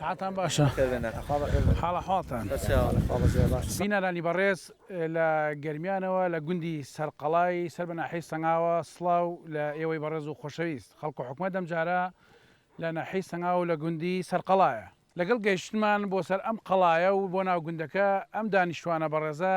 ساعتان باشە حاڵە حاڵتان بینەرانی بەڕێز لە گەرمیانەوە لە گوندی سەرقەڵای سەر بە ناحەی سەنگاوە سلااو لە ئێوەی بەڕێز و خۆشەویست خەڵک و حکومە دەمجارە لە ناحەی سەنگاو لە گوندی سەرقەڵایە لەگەڵ گەیشتمان بۆ سەر ئەم قەڵایە و بۆ ناو گوندەکە ئەم دانیشتوانە بەڕێزە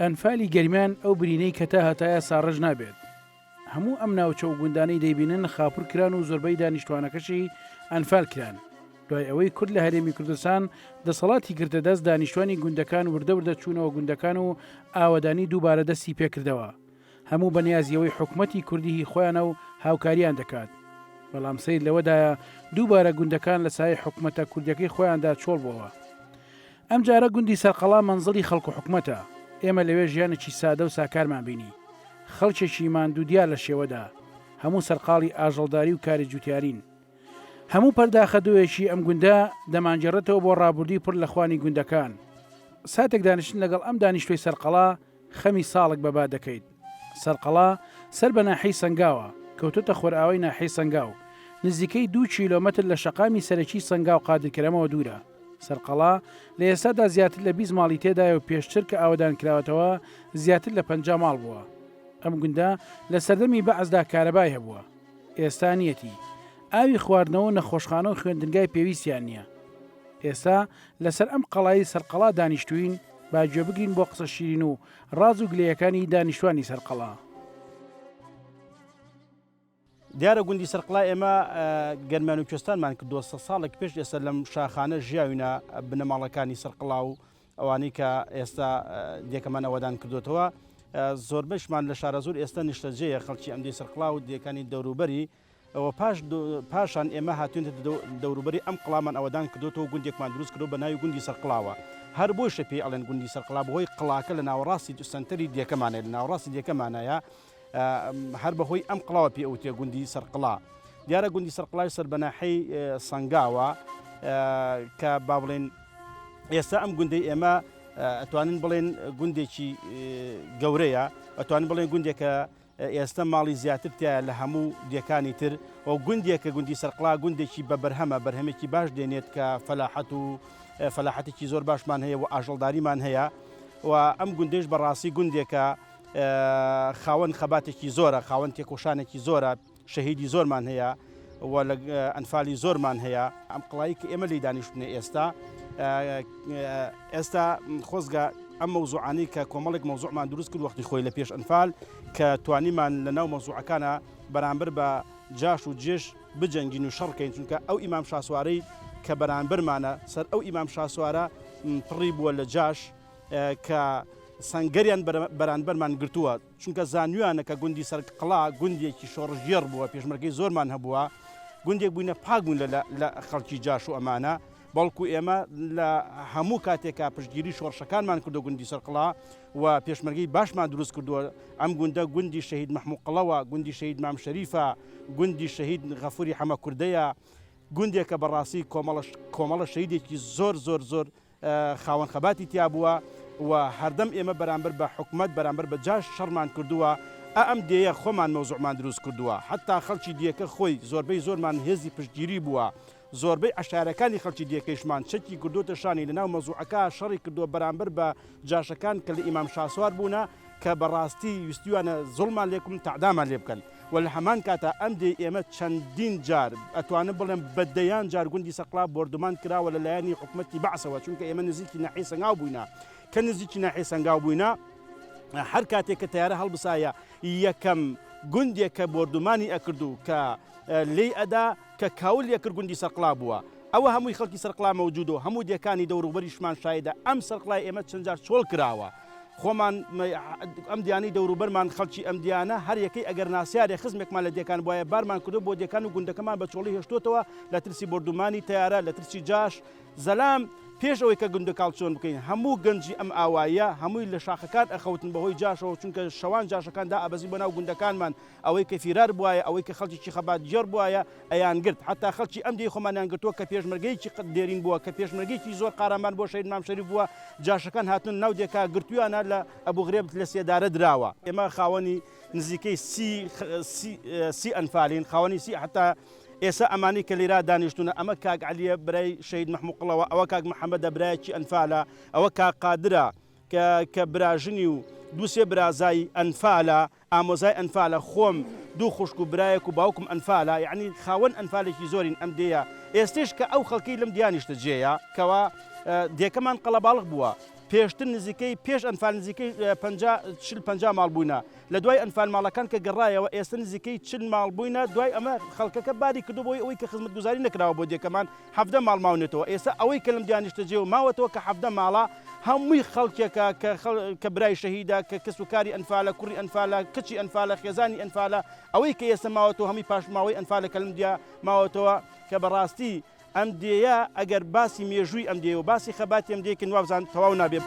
ئەنفالی گەرمیان ئەو برینەی کە تا هەتایە ساڕێژ نابێت. هەموو ئەم ناوچە و گوندانەی دەیبینن خاپور کران و زۆربەی دانیشتوانەکەشی ئەنفال کران. دوای ئەوەی کورد لە هەرێمی کوردستان دەسەڵاتی گرتە دەست دانیشتوانی گوندەکان وردە وردە چوونەوە گوندەکان و ئاوەدانی دووبارە دەستی پێکردەوە. هەموو بە نیازیەوەی حکومەتی کوردی هی خۆیانە و هاوکاریان دەکات، بەڵام سەیر لەوەدایە دووبارە گوندەکان لە سایەی حکومەتە کوردیەکەی خۆیاندا چۆڵ بۆوە. ئەم جارە گوندی سەرقەڵا مەنزڵی خەڵک و حکومەتە، ئێمە لەوێ ژیانێکی سادە و ساکارمان بینی، خەڵکێکی ماندوو دیار لە شێوەدا، هەموو سەرقاڵی ئاژەڵداری و کاری جوتیارین. هەموو پەرداخە دۆیەکی ئەم گوندە دەمانگێڕێتەوە بۆ ڕابوردووی پڕ لە خوانی گوندەکان. ساتێک دانیشتن لەگەڵ ئەم دانیشتوەی سەرقەڵا، خەمی ساڵک بە با دەکەیت. سەرقەڵا، سەر بە ناحیەی سەنگاوە، کەوتۆتە خۆرئاوای ناحیەی سەنگاو. نزیکەی دوو کیلۆمەتر لە شەقامی سەرەکیی سەنگاو قادرکەرەمەوە دوورە. سەرقەڵا، لە ئێستادا زیاتر لە بیست ماڵی تێدایە و پێشتر کە ئاوەدان کراوەتەوە زیاتر لە پەنجا ماڵ بووە. ئەم گوندە لە سەردەمی بەعسدا کارەبای هەبووە. ئێستا نییەتی. ئاوی خواردنەوە و نەخۆشخانە و خوێندنگای پێویستیان نییە. ئێستا لەسەر ئەم قەڵای سەر قەڵا دانیشتووین با گوێ بگرین بۆ قسە شیرین و ڕاز و گلەیەکانی دانیشتوانی سەر قەڵا. دیارە گوندی سەرقڵا ئێمە گەرمیان و کوێستانمان کردووە سە ساڵێک پێش ئێستا لەم شاخانە ژیاوینە بنەماڵەکانی سەرقڵا و ئەوانەی کە ئێستا دێکەمان ئەوەدان کردوێتەوە زۆربەشمان لە شارە زۆر ئێستا نیشتەجێە خەڵکی ئەمدی سەرقڵا و دیەکانی دەوروبەری ەوە پاش پاشان ئێمە هاتوێنتە دەوروبەری ئەم قڵامان ئەوەدان کردۆتەوە گوندێکمان دروست کردۆ بە ناوی گوندی سەرقڵاوە هەر بۆیشە پێی ئەڵێن گوندی سەرقڵا بەهۆی قڵاکە لە ناوەڕاستی سنتەری دێکەمانێت لە ناوەڕاستی دێکەمانایە هەر بەهۆی ئەم قڵاوە پێ ئەوتێ گوندی سەرقڵا دیارە گوندی سەرقڵای سەر بەناحەی سەنگاوە کە با بڵێن ئێستا ئەم گوندی ئێمە ئەتوانین بڵێن گوندێکی گەورەیە ئەتوانین بڵێن گوندێکە ئێستە ماڵی زیاتر تیایە لە هەموو دێکانی تر و گوندێکە، گوندی سەرقڵا گوندێکی بە بەرهەمە، بەرهەمێکی باش دێنێت کە فەلاحەت و فەلاحەتێکی زۆر باشمان هەیە و ئاژەڵداریمان هەیە و ئەم گوندەیش بەڕاستی گوندێکە خاوەن خەباتێکی زۆرە، خاوەن تێکۆشانێکی زۆرە. شەهیدی زۆرمان هەیە و لە ئەنفالی زۆرمان هەیە. ئەم قڵایی کە ئێمە لێی دانیشتوونە ئێستا، ئێستا خۆزگە ئەم مەوزوعانەی کە کۆمەڵێک مەوزوعمان دروست کرد وەختی خۆی لە پێش ئەنفال کە توانیمان لە ناو مەوزوعەکانا بەرامبەر بە جاش و جێش بجەنگین و شەڕ کەین چونکە ئەو ئیمام شاسوارەی کە بەرامبەرمانە سەر ئەو ئیمام شاسوارە پڕی بووە لە جاش کە سەنگەریان بەرانبەرمان گرتووە. چونکە زانیویانە کە گوندی سەرکقڵا گوندێکی شۆڕشگێڕ بووە پێشمەرگەی زۆرمان هەبووە گوندێک بووینە پاک بوون لە خەڵکی جاش و ئەمانە بەڵکو ئێمە لە هەموو کاتێکا پشتگیری شۆڕشەکانمان کردو گوندی سەرقڵا و پێشمەرگەی باشمان دروست کردووە ئەم گوندە گوندی شەهید محمود قڵەوە گوندی شەهید مام شەریفە گوندی شەهید غەفوری حەمە کوردەیە گوندێکە بەڕاستی کۆمەڵش کۆمەڵە شەیدێکی زۆر زۆر زۆر خاوەن خەباتی تیا بووە و هەردەم ئێمە بەرامبەر بە حکومەت بەرامبەر بە جاش شەڕمان کردووە ئە ئەم دێیە خۆمان مەوزوعمان دروست کردووە حەتا خەڵکی دیەکە خۆی زۆربەی زۆرمان هێزی پشتگیری بووە زۆربەی عەشایەرەکانی خەڵکی دیەکەیشمان چەکی کردۆتە شانی لەناو مەوزوعەکە شەڕی کردووە بەرامبەر بە جاشەکان کە لە ئیمام شاسوار بوونە کە بەڕاستی ویستویانە زوڵمان لێ بکەن تەعدامان لێ بکەن و لە هەمان کاتا ئەم دێی ئێمە چەندین جار ئەتوانم بڵێم بە دەیان جار گوندی سەقڵا بۆردومان کراوە لە لایەنی حکومەتی بەعسەوە چونکە ئێمە نزیکی ناحی سەنگاو بووینە کە نزیکی ناحی سەنگاو بووینە هەر کاتێک کە تیارە هەڵبسایە یەکەم گوندێک کە بۆردومانی ئەکردو کە لی ئەدا کە کاول یەکرد گوندی سەقلا بووە ئەوە هەمووی خەڵکی سەرقلا مەوجودۆ هەموو دەکانی دەوروبەریشمان شایدە ئەم سەرقلای ئێمە چەندجار چۆڵ کراوە خۆمان ئەم دیانەی دەوروبەرمان خەڵکی ئەم دیانە هەر یەکەی ئەگەر ناسیارێ خزمێکمان لە دێکان بواە بارمان کردو بۆ دێکان و گوندەکەمان بە چۆڵی هێشتوتەوە لە ترسی بردومانی تیارە لە ترسی جاش زەلام پێش ئەوەی کە گوندە کاڵچۆن بکەین هەموو گەنجی ئەم ئاواییە هەمووی لە شاخەکان ئەخەوتن بەهۆی جاشەوە چونکە شەوان جاشەکان دا ئابەزی بۆ ناو گوندەکانمان ئەوەی کە فیرار بوایە، ئەوەی کە خەڵکێکی خەبات گێڕ بوایە، ئەیانگرت. حەتا خەڵکی ئەم دێی خۆمانیان گرتووە کە پێشمەرگەیەکی قت دێرین بووە، کە پێشمەرگەیەکی زۆر قارەمان بووە شەهید مام شەریف بووە، جاشەکان هاتوونە ناو دێکا گرتوویانە لە ئەبو غرێب لە سێدارە دراوە. ئێمە خاوەنی نزیکەی سی سی ئەنفالین، خاوەنی سی حەتا ئێستا ئەمانەی کە لێرا دانیشتوونە، ئەمە کاک عەلیە برای شەهید مەحموو قڵەوە، ئەوە کاک محەمەدە برایەکی ئەنفالە، ئەوە کاک قادرە کە کە براژنی و دوو سێ برازای ئەنفالە، ئامۆزای ئەنفالە خۆم دوو خوشک و برایەک و باوکم ئەنفالە یەعنی خاوەن ئەنفالێکی زۆرین ئەم دێیە ئێستێش کە ئەو خەڵکەی لەم دیا نیشتە جێیە کەوا دێکەمان قەڵەباڵغ بووە پێشتر نزیکەی پێش ئەنفال نزیکەی پەنجا چل پەنجا ماڵ بووینە لە دوای ئەنفال ماڵەکان کە گەڕایەوە ئێستە نزیکەی چل ماڵ بووینە دوای ئەمە خەڵکەکە باری کردو بۆی ئەوەی کە خزمەتگوزاری نەکراوە بۆ دێکەمان حەڤدە ماڵ ماونەتەوە ئێستا ئەوەی کە لەم دوا نیشتەجێوە ماوەتەوە کە حەڤدە ماڵە هەمووی خەڵکێکە کە کە برای شەهیدە کە کەس و کاری ئەنفالە کوڕی ئەنفالە کچی ئەنفالە خێزانی ئەنفالە ئەوەی کە ئێستا ماوەتەوە هەمووی پاشماوەی ئەنفالە کە لەم دوا ماوەتەوە کە بەڕاستی ئەم دێیە ئەگەر باسی مێژووی ئەم دێ و باسی خەباتی ئەم دێکن وابزان تەواو نابێت.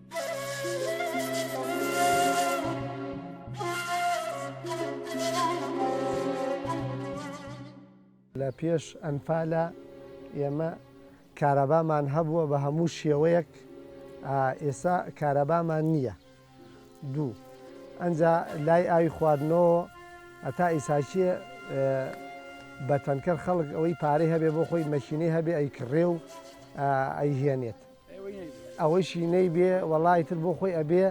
لە پێش ئەنفالە ئێمە کارەبامان هەبووە بە هەموو شێوەیەک ئێسا کارەبامان نییە دوو ئەجا لای ئاوی خواردنەوە ئەتا ئیساچێ بە تەنکەر خەڵک ئەوەی پارەی هەبێ بۆ خۆی مەشینەی هەبێ ئەی کڕێ و ئەیهێنێت ئەوەیشی نەیبێ وەڵا ئیتر بۆ خۆی ئەبێ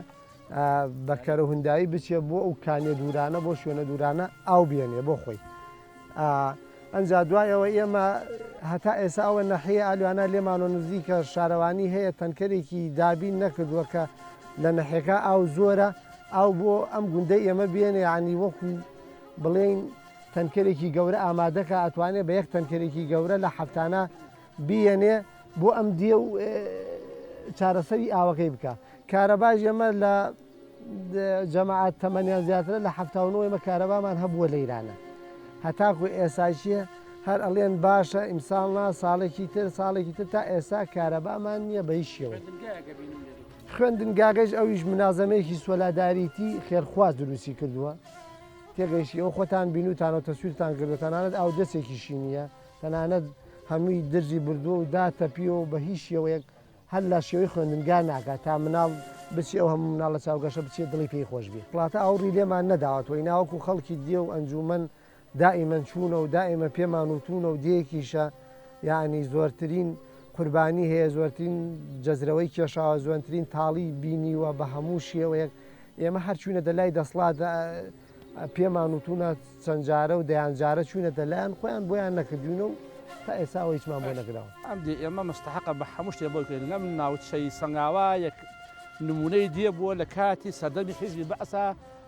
بە کەرەوهندایی بچێ بۆ ئەو کانیە دوورانە بۆ شوێنە دوورانە ئاو بێنێ بۆ خۆی ئەجا دوایەوە ئێمە هەتا ئێسا ئەوە نەحەیە ئالوانە لێمان و نزیکە شارەوانی هەیە تەنکەرێکی دابین نەکردووە کە لە نەحەکە ئاو زۆرە ئاو بۆ ئەم گوندەی ئێمە بێنێ عنی وەکو بڵێن تەنکەرێکی گەورە ئامادەکە ئەتوانێت بە یەک تەنکەرێکی گەورە لە هەفتانە بیەنێ بۆ ئەم دیە و چارەسەری ئاوەکەی بکا کارەباش ئێمە لە جەماعات تەمەنیان زیاترە لە هەفتا و نۆ ئێمە کارەبامان هەبووە لە ئیرانە هەتاکو ئێساکیە هەر ئەڵێن باشە ئیمساڵ نا ساڵێکی تر ساڵێکی تر تا ئێستا کارەبامان نییە بە هیچ شێوە خوێندنگاگەش ئەویش منازەمەیەکی سۆلاداریتی خێرخواز دروستی کردووە تێگەیشتیەوە خۆتان بینوتانەوە تەسویرتان گردتانانت ئاو دەستێکیشی نییە تەنانەت هەمووی درزی بردووە و داتەپیوە و بە هیچ شێوەیەک هەر لە شێوەی خوێندنگا ناکات تا مناڵ بچێ ئەو هەموو مناڵە چاوگەشە بچێ دڵی پێی خۆش بێ پڵاتە ئاوڕی لێمان نەداوەتەوە ئینا وەکوو خەڵکی دێ و ئەنجوومەن دائیمەن چوونە و دائیمە پێمان وتوونە و دێیەکیشە یانی زۆرترین قوربانی هەیە زۆرترین جەزرەوەی کێشاوە زۆنترین تاڵی بینیوە بە هەموو شێوەیەک ئێمە هەر چووینەتە لای دەسڵات پێمان وتوونە چەند جارە و دەیان جارە چوینەتە لایان خۆیان بۆیان نەکردوینە و تا ئێساوە هیچمان بۆ نەکراوە. ئەم دێ ئێمە مستەحەقە بە هەموو شتێ بۆی بکەین لەم ناوچەی سەنگاوا یەک نموونەی دێ بووە لە کاتی سەردەمی حیزبی بەعسا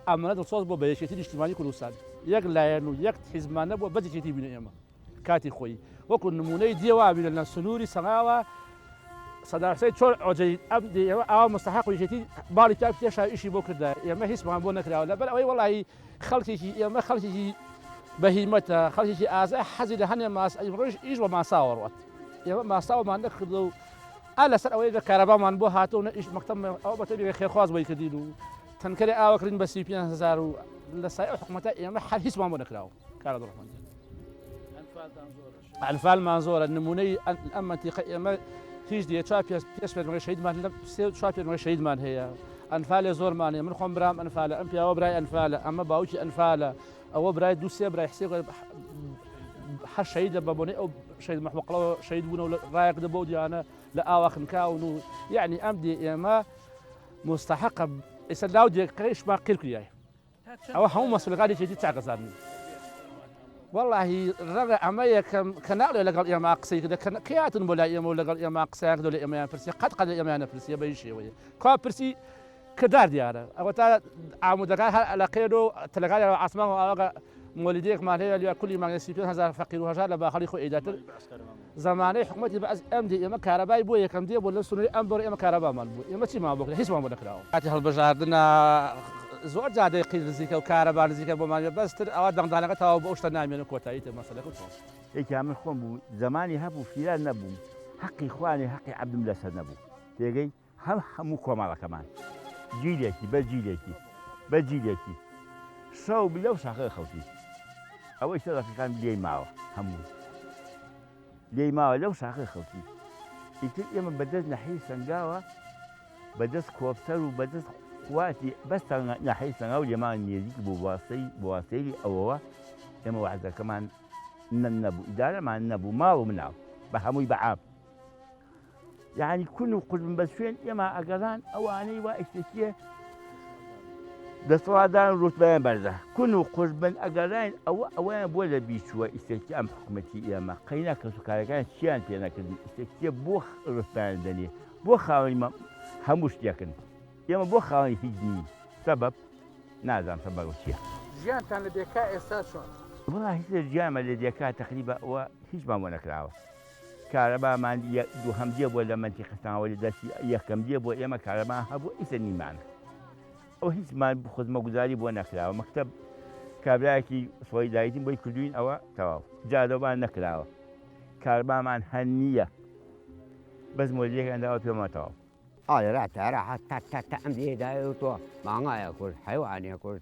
ئەمەنە دڵسۆز بۆ بە یەکێتی نیشتیمانی کوردستان یەک لایەن و یەک حیزبمان نەبووە بەس یەکێتی بووینە ئێمە. کاتی خۆی وەکو نمونەی دیە وابیرە لە سنووری سەغاوە سەداسەی چۆن ئۆجەی ئەم ئێوە ئاوا مستحق و یەکێتی باڵی تا پێشا ئیشی بۆ کردا ئێمە هیچمان بۆ نەکراوە لەبەر ئەوەی وڵی خەڵکێکی ئێمە خەڵکێکی بەهیمەتە خەڵکێکی ئازا حەزی لە هەنێ ماس ئەی ڕۆژ ئیش بە ماساوەڕات ئێمە ماساوەمان نەکردو و ئا لەسەر ئەوەی لە کارەبامان بۆ هاتەوە نە ئیش مەکتەم ئەو بەتەبی خێخواز بۆی کردین و تەنکەری ئاوەکردین بە سی پێ هزار و لە سای حکوومەتە ئێمە هەر هیچمان بۆ نەکراوە ئەنفال مان زۆرە نمونەی ئەم منتیقە ئێمە هیچ دیە چا پێ پێش پێمەی شەیدمان لە سێ چا پێمەی شەیدمان هەیە ئەنفالێ زۆرمانێ من خۆم برام ئەنفالە ئەم پیاوە برای ئەنفالە ئەمە باوکی ئەنفالە ئەوە برای دو سێ برای حسێ حە شەید لە بەبوونی ئەو شەید مەحمەقڵەوە شەید بوون و ڕایەک دە بۆ دیانە لە ئاواخنکاون و یعنی ئەم دی ئێمە مستحقە ئێستا لاو دێکەکەیشمان قیرکریای ئەوە هەموو مەسولەکانی یەکێتی چاکە زانن. وەڵاهی ڕەنگە ئەمە یەکەم کەناڵە لەگەڵ ئێمە قسەی کردە کە کەی هاتن بۆ لای ئێمە و لەگەڵ ئێمە قسەیان کردو لە ئێمەیان پرسیە قەت قەت لە ئێمەیان نەپرسیە بەهیچ شێوەیەک کوا پرسی کردار دیارە ئەوەتا عامودەکان هەر ئەلەقێن و تەلەکانیان بە عاسمان و ئاوەگە مۆلیدەیەکمان هەیە لێ کولی مانگێ سی پێنج هەزار فەقیر و هەژار لە باخەڵی خۆی ئەیداتر زەمانەی حکومەتی بەعس ئەم دی ئێمە کارەبای بۆ یەکەم دی بۆ لەم سنوری ئەم بەرۆی ئێمە کارەبامان بوو ئێمە چیمان بۆ کرا هیچمان بۆ نەکراوە کاتی هەڵبژاردنا زۆر جادەی قیر نزیکە و کارەبا نزیکە بۆمان وێ بەس تر ئەوە دەنگدانەکە تەواو بۆ ئەو شتە نامێنێ کۆتایی تێ مەسەلەکە چۆن یەکیان من خۆم بوو زەمانی هەبوو فیران نەبووم حەقی خوانێ حەقی عەبدم لەسەر نەبوو تێگەی. هەم هەموو کۆمەڵەکەمان جیلێکی بەر جیلێکی بەر جیلێکی شەو لەو شاخەکە خەوتی ئەوەی سەرەکەکان لێی ماوە هەموو لێی ماوە لەو شاخەکە خەوتی ئیتر ئێمە بەدەست نەحی سنگاوە بەدەست کۆپتەر و بەدەست قواتی بەس تەنگە نەحی سەنگا و لێمان نێزیک بوو بواستەی بواستەیری ئەوەوە ئێمە وعدەکەمان نەبوو ئیدارەمان نەبوو ماڵ و مناڵ بە هەمووی بەعام یەعنی کون و قژم بە شوێن ئێمە ئەگەڕان ئەوانەی وا ئیشتێکیە دەسەڵاتدان ڕوتبیان بەرزە کون و قژ بن ئەگەڕین ئەوە ئەویان بۆ لە بیچووە ئیسێکی ئەم حکوومەتی ئێمە قەینا کەس و کارەکان چیان پێ نەکردی ئیسێکیە بۆ ڕستان دەنێ بۆ خاوەنی مە هەموو شتێکن ئێمە بۆ خاوەنی هیچ نین سەبەب نازان سەبەر چیە ژیانتان لە دێکا ئێستا چۆن؟ وڵا هیچ لە ژیانمە لە دێکا تەقریبا ئەوە هیچمان بۆ نەکراوە. کارەبا مان یە دوهەم دێ بۆ لە مەنتیقە تاوە لە دەستی یە کەم دێ بۆ ئێمە کارەبا هەبوو ئیسە نیمان ئەو هیچ مان خزمە گوزاری بۆ نەکراوە مەکتەب کابراایەکی سۆی دایتیم بۆی کردوین ئەوە تەواو جادەبان نەکراوە کاربامان هە نییە بەس مۆلیەکان داوە پێما تەواو ئایا را تارا حە تا تا تا ئەم دێ دایە تۆ ماغایە کورد حەیوانە کورد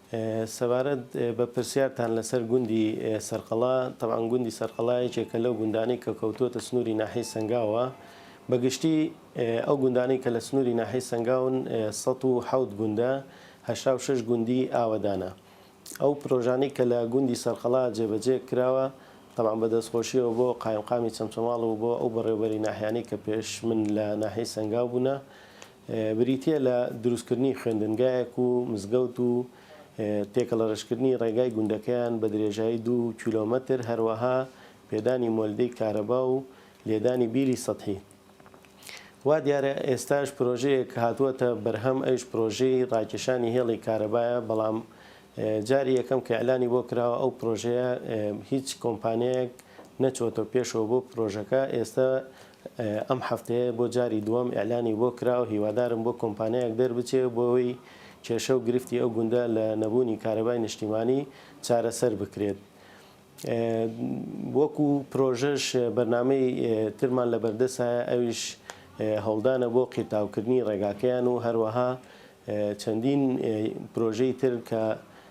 سەبارەت بە پرسیارتان لەسەر گوندی سەرقەڵا، تەبعەن گوندی سەرقەڵا یەکێکە لەو گوندانەی کە کەوتووەتە سنووری ناحیەی سەنگاوە، بە گشتی ئەو گوندانەی کە لە سنووری ناحیەی سەنگاون سەد و حەوت گوندە، هەشتا و شەش گوندی ئاوەدانە. ئەو پرۆژانەی کە لە گوندی سەرقەڵا جێبەجێ کراوە، تەبعەن بە دەستخۆشییەوە بۆ قایمقامی چەمچەماڵ و بۆ ئەو بەڕێوەبەری ناحیانەی کە پێش من لە ناحیەی سەنگاو بوونە، بریتییە لە دروستکردنی خوێندنگایەک و مزگەوت و تێکەڵەرەشکردنی ڕێگای گوندەکەیان بە درێژایی دوو کیلۆمەتر، هەروەها پێدانی مۆلدەی کارەبا و لێدانی بیری سەتحی. وا دیارە ئێستاش پرۆژەیەک هاتووەتە بەرهەم، ئەویش پرۆژەی ڕاکێشانی هێڵی کارەبایە، بەڵام جاری یەکەم کە ئیعلانی بۆ کراوە ئەو پرۆژەیە هیچ کۆمپانیایەک نەچووەتەوە پێشەوە بۆ پرۆژەکە، ئێستە ئەم هەفتەیە بۆ جاری دووەم ئیعلانی بۆ کرا و هیوادارم بۆ کۆمپانیایەک دەربچێ بۆ ئەوەی کێشە و گرفتی ئەو گوندە لە نەبوونی کارەبای نیشتیمانی چارەسەر بکرێت. وەکو پرۆژەش بەرنامەی ترمان لەبەردەسایە ئەویش هەوڵدانە بۆ قیرتاوکردنی ڕێگاکەیان و هەروەها چەندین پرۆژەی تر کە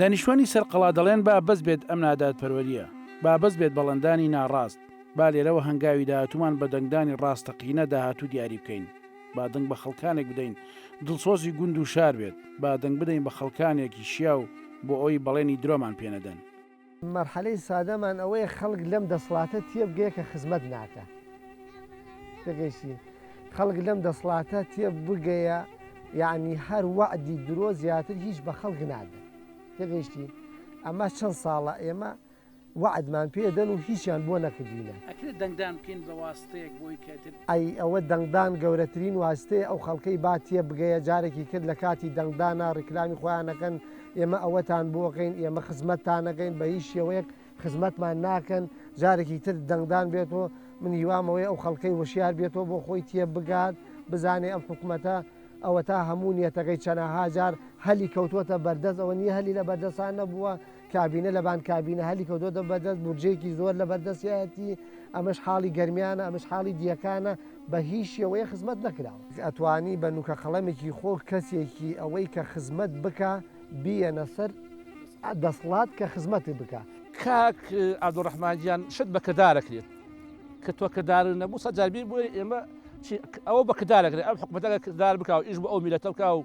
دانیشتوانی سەر قەڵا دەڵێن با بەس بێت ئەم نادادپەروەریە، با بەس بێت بەڵێندانی ناڕاست، با لێرەوە هەنگاوی داهاتوومان بە دەنگدانی ڕاستەقینە داهاتوو دیاری بکەین، با دەنگ بە خەڵکانێک بدەین دڵسۆزی گوند و شار بێت، با دەنگ بدەین بە خەڵکانێکی شیاو بۆ ئەوەی بەڵێنی درۆمان پێنەدەن. مەرحەلەی سادەمان ئەوەیە خەڵک لەم دەسڵاتە تێبگەیە کە خزمەت ناکا. تێگەیشتی؟ خەڵک لەم دەسڵاتە تێبگەیە یانی هەر وەعدی درۆ زیاتر هیچ بە خەڵک نادەن. تێگەیشتی؟ ئەمە چەند ساڵە ئێمە وەعدمان پێدەن و هیچیان بۆ نەکردینە. ئەکرێ دەنگدان بکەین بە واستەیەک بۆی کەتر؟ ئەی ئەوە دەنگدان گەورەترین واستەیە ئەو خەڵکەی با تێبگەیە جارێکی تر لە کاتی دەنگدانا ڕیکلامی خۆیان ئەکەن ئێمە ئەوەتان بۆ ئەکەین، ئێمە خزمەتتان ئەکەین، بە هیچ شێوەیەک خزمەتمان ناکەن، جارێکی تر دەنگدان بێتەوە، من هیوام ئەوەیە ئەو خەڵکەی وشیار بێتەوە بۆ خۆی تێبگات، بزانێت ئەم حکومەتە ئەوەتا هەموو نیەتەکەی چەناها جار هەلی کەوتووەتە بەردەست، ئەوە نیە هەلی لە بەردەستان نەبووە، کابینە لەبان کابینە هەلی کەوتووەتە بەردەست، بودجەیەکی زۆر لە بەردەستیایەتی، ئەمەش حاڵی گەرمیانە، ئەمەش حاڵی دییەکانە. بە هیچ شێوەیە خزمەت نەکراوە. ئەتوانی بە نوکە قەڵەمێکی خۆ کەسێکی ئەوەی کە خزمەت بکا بیەنە سەر دەسڵات کە خزمەتت بکا. کاک عبدالرحمن گیان شت بە کردار ئەکرێت کە تۆ کردارت نەبوو سەد جار بیر بوێری ئێمە چی ئەوە بە کردار ئەکرێت ئەم حکومەتە ئەگەر کردار بکا و ئیش بۆ ئەو میلەتە بکا و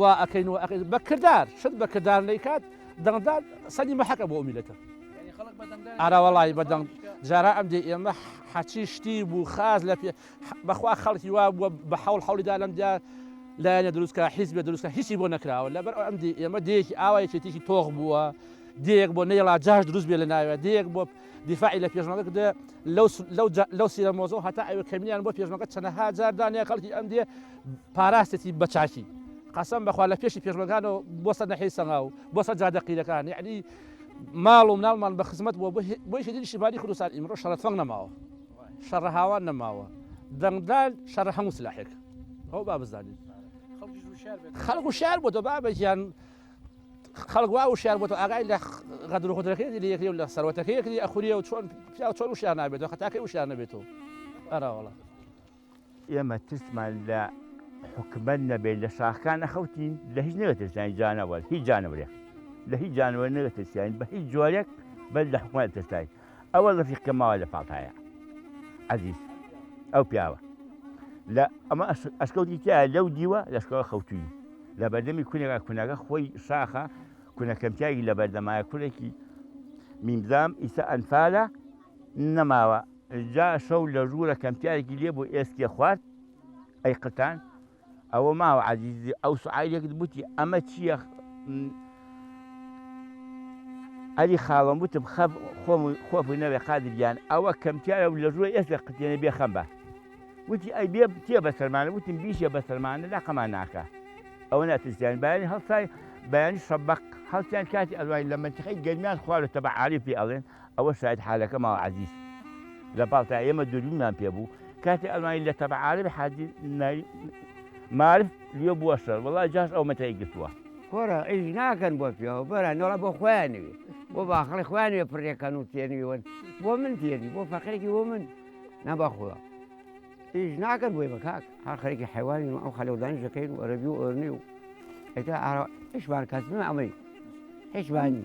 وا ئەکەین و ئەکەین بە کردار شت بە کردار نەیکات دەنگدان سەری مەحەکە بۆ ئەو میلەتە ئارا وەڵی بە دەنگ جارا ئەم دێ ئێمە حەچی شتی بوو خاز لە پێ بەخوا خەڵکی وا بووە بە حەوڵ حەولیدا لەم دیا لایەنە دروستکە حیز بێ دروستکە هیچی بۆ نەکراوە لەبەر ئەم دی ئێمە دێکی ئاوایەکێتیکی تۆغ بووە دێک بۆ نەیڵا جاش دروست بێ لە ناوێ دێک بۆ دیفاعی لە پێشمەگە دێ لەو لەو جا لەو سیرە مۆزەو هەتا ئەوێ کەمینیان بۆ پێشمەگە چەنەها جار دانێ خەڵکی ئەم دێ پاراستێتی بە چاکی قەسەم بەخوا لە پێشی پێشمەگانەوە بۆ سەر نەحەی سەنگا و بۆ سەر جادە قیرەکان یعنی ماڵ و مناڵمان بە خزمەت بۆ بۆی هێدی شیبانی کوردستان ئیمڕۆ شەڕە تفەنگ نەماوە شەڕە هاوان نەماوە دەنگدان شەڕە هەموو سلاحێک ئەو با بزانین خەڵک و شار بۆ دەبا بەگیان خەڵک وا وشیار بۆتەوە ئاگای لە غەدر و غودرەکەی لە یەکری و لە سەروەتەکەی یەکری ئەخوریە و چۆن پیاو چۆن وشیار نابێتەوە خەتاکەی وشیار نەبێتەوە ئەراوەڵە ئێمە ترسمان لە حکومەت نەبێت لە شاخکان نەخەوتین لە هیچ نەوێتەسیانی جانەوە هیچ جانەوەێ لە هیچ جانەوە نەوێتەسیانی بە هیچ جۆرێک بەر لە حکومەت ترساین ئەوە ڕفیق کە ماوە لە پاڵتایە عزیز ئەو پیاوە لە ئەمە ئەشکەوتی تیا لەو دیوە لەشکەوە خەوتوی لە بەردەمی کونێکا کونەکە خۆی شاخە کونەکەمتیاگی لە بەردەمایە کورێکی میمزام ئیسە ئەنفالە نەماوە جا شەو لە ژوورە کەمتیارێکی لێ بۆ ئێسکێ خوارد ئەی قتان ئەوە ماوە عزیزی ئەو سعایلێکت بوتی ئەمە چییە ئەری خاڵم وتم خەب خۆم خۆفی نەوێ قادرگیان ئەوە کەمتیارە و لە ژووە ئێستا قتێنە بێ خەم بە وتی ئەی بێ تێ بە سەرمانە وتم بیشە بە سەرمانە لاقەمان ناکە ئەوە ناتویستیان بەیانی هەڵسای بەیانی شەبق هەڵسیان کاتی ئەلوای لە منتیقی گەرمیان خوارە تەبە عالی پێ ئەڵێن ئەوە شاید حالەکە ماڵ عەزیز لە پاڵتا ئێمە دووربینمان پێ بوو کاتێ ئەڵمانی لە تەبع عارەبی حاجی نای مارف لیۆ بووە شەر وەڵا جاش ئەو مەتای گرتووە کورە ئیش ناکەن بۆ پێوە بەرە نەڵە بۆ خۆیان نوێ بۆ باخڵی خۆیان نوێ پڕێکەن و تێنوێوەن بۆ من تێنی بۆ فەقێکی بۆ من نەبەخوا ئیش ناکەن بۆی بە کاک هەر خەرێکی حیوانی و ئەو خەلەودانی دەکەین و ئەرەبی و ئۆرنی و ئەتا ئارا هیچمان کەس بمە ئەمەی هیچمانی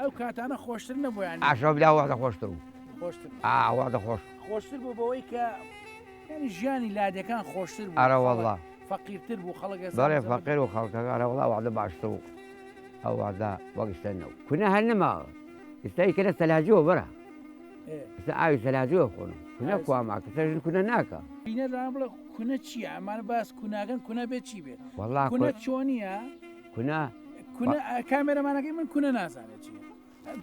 ئەو کاتانە خۆشتر نەبوویان ئاشە بلا وەختە خۆشتر بوو ئاوادە خۆش خۆشتر بوو بەوەی کە ینی ژیانی لادەکان خۆشتر ئارەوەڵا فەقیرتر بوو خەڵک بەڵێ فەقیر و خەڵکەکە ئارەوەڵا وادە باشتر و ئەووادا وەگشتە نەو کونە هەر نەماوە ئستای کەە سەلاجەوە بەرە ئستا ئاوی سەلاجەوە خۆن کونە کواماکە سەژن کونە ناکە بینە بڵێ کونە چیە ئەمانە باس کوناگەن کونە بێت چی بێت وڵا کونە چۆنیە؟ کونە کونە کامێرەمانەکەی من کونە نازانێت چی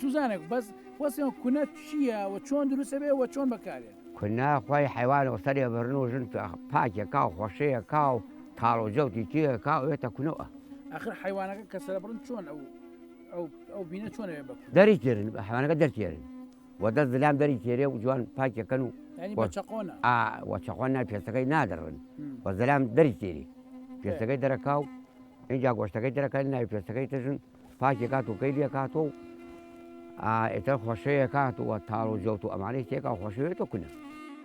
جوزانێک بەس وەسیەوە کونە چییە و چۆن دروستە بێ وە چۆن بەکارێت کونە خۆی حیوان و سەرێ بەرن و ژن پاکێ کا و خۆشەیە کا و تاڵ و جەوتی تێ کا وێتە کونەوە ئەخر حیوانەکە کە سەرە بڕن چۆن ئەو ئەو بینە چۆنەوێ بە دەری تێرن بە حیوانەکە دەرتێرن و دەست دلان دەری تێرێ و جوان پاکەکەن و وەچەخۆن نای پێستەکەی نادڕن و زەلام دەری تێری پێستەکەی دەرەکا و اینجا گۆشتەکەی دەرەکە ناوی پێستەکەی تژن پاکی کات و کەی لێکات و ئێتە خۆشەیە کات و تاڵ و جوت و ئەمانەی تێکا خۆشەوێت و کونە.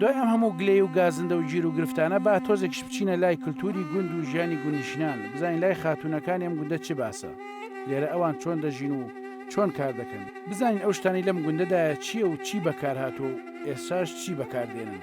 دوای ئەم هەموو گلەی و گازندە و گیر و گرفتانە با تۆزێکش بچینە لای کللتوری گوند و ژیانی گونیشنان بزانین لای خاتونەکانی ئەم گوندە چ باسە لێرە ئەوان چۆن دەژین و چۆن کار دەکەن بزانین ئەو شتانی لەم گوندەدایە چییە و چی بەکارهاتوو ئێساش چی بەکاردێنن.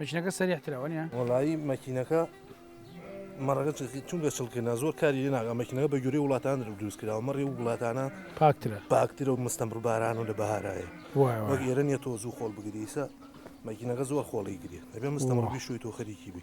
مەکینەکە سەریح ترە وەنیە؟ وەڵایی مەکینەکە مەڕەکە چونکە چڵکردنا زۆر کاری لێ ناگە مەکینەکە بە گوێرەی وڵاتان درو دروست کراوە مەڕی و وڵاتانە پاکترە پاکترە و مستەمڕ باران و لە بەهارایە وەک ئێرە نیە تۆ زوو خۆڵ بگریسە مەکینەکە زۆر خۆڵی گرێت دەبێ مستەمڕ بیشوی تۆ خەریکی بی.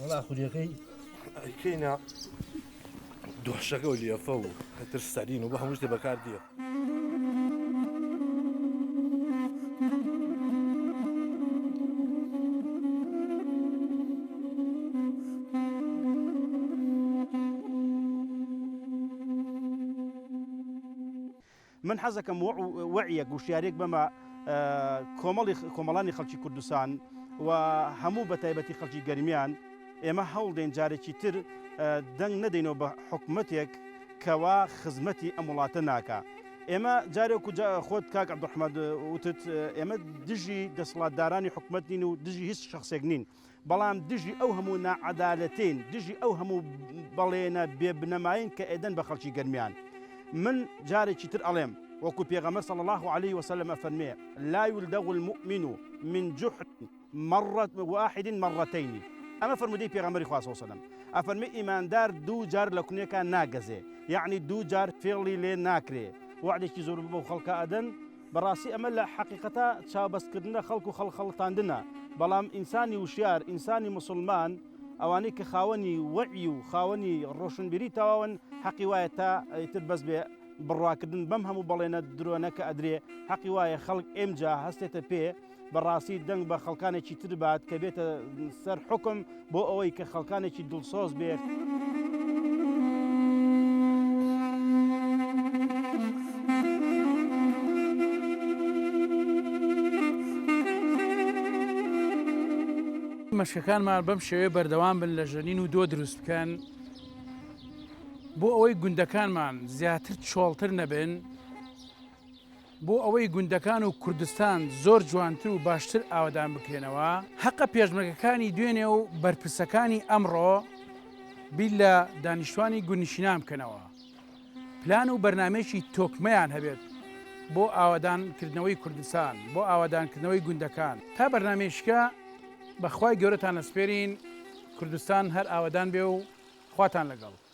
وەڵا خوریەکەی ئەیکەینە دۆشەکە و لێفە و هەتر سەرین و بە هەمووشتێ بەکار دیە. من حەزەکەم وەعیەک وشیاریەک بەمە کۆمەڵی کۆمەڵانی خەڵکی کوردستان و هەموو بە تایبەتی خەڵکی گەرمیان ئێمە هەوڵدەین جارێکی تر دەنگ نەدەینەوە بە حکومەتێک کەوا خزمەتی ئەم وڵاتە ناکە ئێمە جارێک و خۆت کاک عبدحمد وتت ئێمە دژی دەسڵاتدارانی حکومت نین و دژی هیچ شخصێک نین بەڵام دژی ئەو هەموو ناعەدالەتین دژی ئەو هەموو بەڵێنە بێ بنەماین کە ئێدەن بە خەڵکی گەرمیان من جارێکی تر ئەڵێم وەکو پێغەمبەر صلی الله علیه وسلم ئەفەرمێ لا یلدغ المؤمن من جحر مرة واحد مرتين ئەمە فرمودەی پێغەمبەری خوا صلی الله علیه وسلم ئەفەرمێ ئیماندار دوو جار لە کونێکا ناگەزێ یعنی دوو جار فێڵی لێ ناکرێ وعدێکی زۆر بەو خەڵکە ئەدەن بەڕاستی ئەمە لە حەقیقەتا چاوبەست کردنە خەڵک و خەڵک خەڵتاندنە، بەڵام ئینسانی وشیار، ئینسانی موسڵمان، ئەوانەی کە خاوەنی وەعی و خاوەنی ڕۆشنبیری تەواون حەقی وایە تا ئیتر بەس بێ بڕواکردن بەم هەموو بەڵێنە درۆنە کە ئەدرێ، حەقی وایە خەڵک ئێمجا هەستێتە پێ، بەڕاستی دەنگ بە خەڵکانێکی تر بات کە بێتە سەر حکم بۆ ئەوەی کە خەڵکانێکی دڵسۆز بێت. مەشکەکانمان بەم شێوەیە بەردەوام بن لە ژەنین و دۆ دروست بکەن بۆ ئەوەی گوندەکانمان زیاتر چۆڵتر نەبن بۆ ئەوەی گوندەکان و کوردستان زۆر جوانتر و باشتر ئاوەدان بکرێنەوە، هەقە پێشمەرگەکانی دوێنێ و بەرپرسەکانی ئەمڕۆ بیر لە دانیشتوانی گوندنشینان بکەنەوە، پلان و بەرنامەیەکی تۆکمەیان هەبێت بۆ ئاوەدانکردنەوەی کوردستان، بۆ ئاوەدانکردنەوەی گوندەکان، تا بەرنامەیشکە بە خوای گەورەتان ئەسپێرین، کوردستان هەر ئاوەدان بێ و خواتان لەگەڵ.